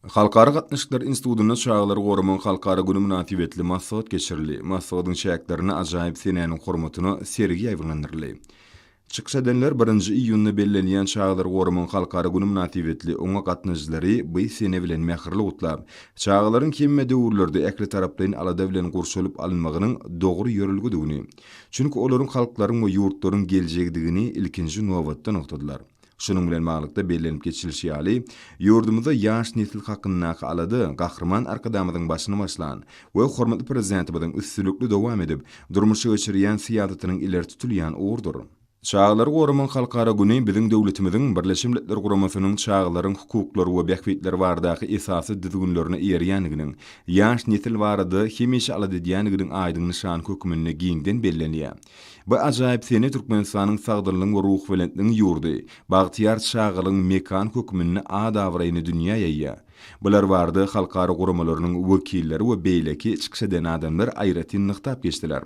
Halkara gatnaşyklary institutynda Çagalary goramagyň halkara güni mynasybetli maslahat geçirildi. Maslahatyň çäklerinde ajaýyp senäniň hormatyna sergi ýaýbaňlandyryldy. Çykyş edenler birinji iýunda bellenilýän Çagalary goramagyň halkara güni mynasybetli oňa gatnaşyjylary bu sene bilen mähirli gutlap, çagalaryň hemme döwürlerde ählitaraplaýyn alada bilen gurşalyp alynmagynyň dogry ýörelgedigini, çünki olaryň halklaryň we ýurtlaryň geljegidigini ilkinji nobatda nygtadylar. Şunuň bilen baglylykda bellenip geçilişi ýaly, ýurdumyzda ýaş nesil hakyndaky alada Gahryman Arkadagymyzyň başyny başlan we hormatly Prezidentimiziň üstünlikli dowam edip, durmuşa geçirýän syýasatynyň ileri tutulýan ugurdyr. Çagalary goramagyň halkara güni biziň döwletimiziň Birleşen Milletler Guramasynyň Çagalaryň hukuklary we bähbitleri baradaky esasy düzgünlerine eýerýändiginiň, ýaş nesil barada hemişe alada edýändiginiň aýdyň nyşany hökmünde giňden bellenýär. Bu ajaýyp sene Türkmenistanyň sagdynlygyň we ruhubelentligiň ýurdy, bagtyýar çagalygyň mekany hökmünde at-abraýyny dünýä ýaýýar. Bular barada halkara guramalarynyň wekilleri we beýleki çykyş eden adamlar aýratyn nygtap geçdiler.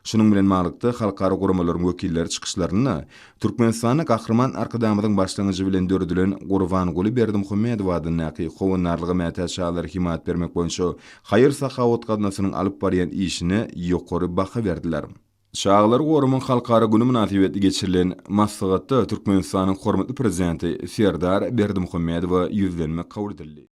Şunuň bilen baglylykda, halkara guramalaryň wekilleri çykyşlarynda Türkmenistanda Gahryman Arkadagymyzyň başlangyjy bilen döredilen Gurbanguly Berdimuhamedow adyndaky Howandarlyga mätäç çagalara hemaýat bermek boýunça haýyr-sahawat gaznasynyň alyp barýan işine ýokary baha berdiler. Çagalary goramak halkara güni mynasybetli geçirilen maslahatda Türkmenistanyň hormatly Prezidenti Serdar Berdimuhamedowa ýüzlenme kabul edildi.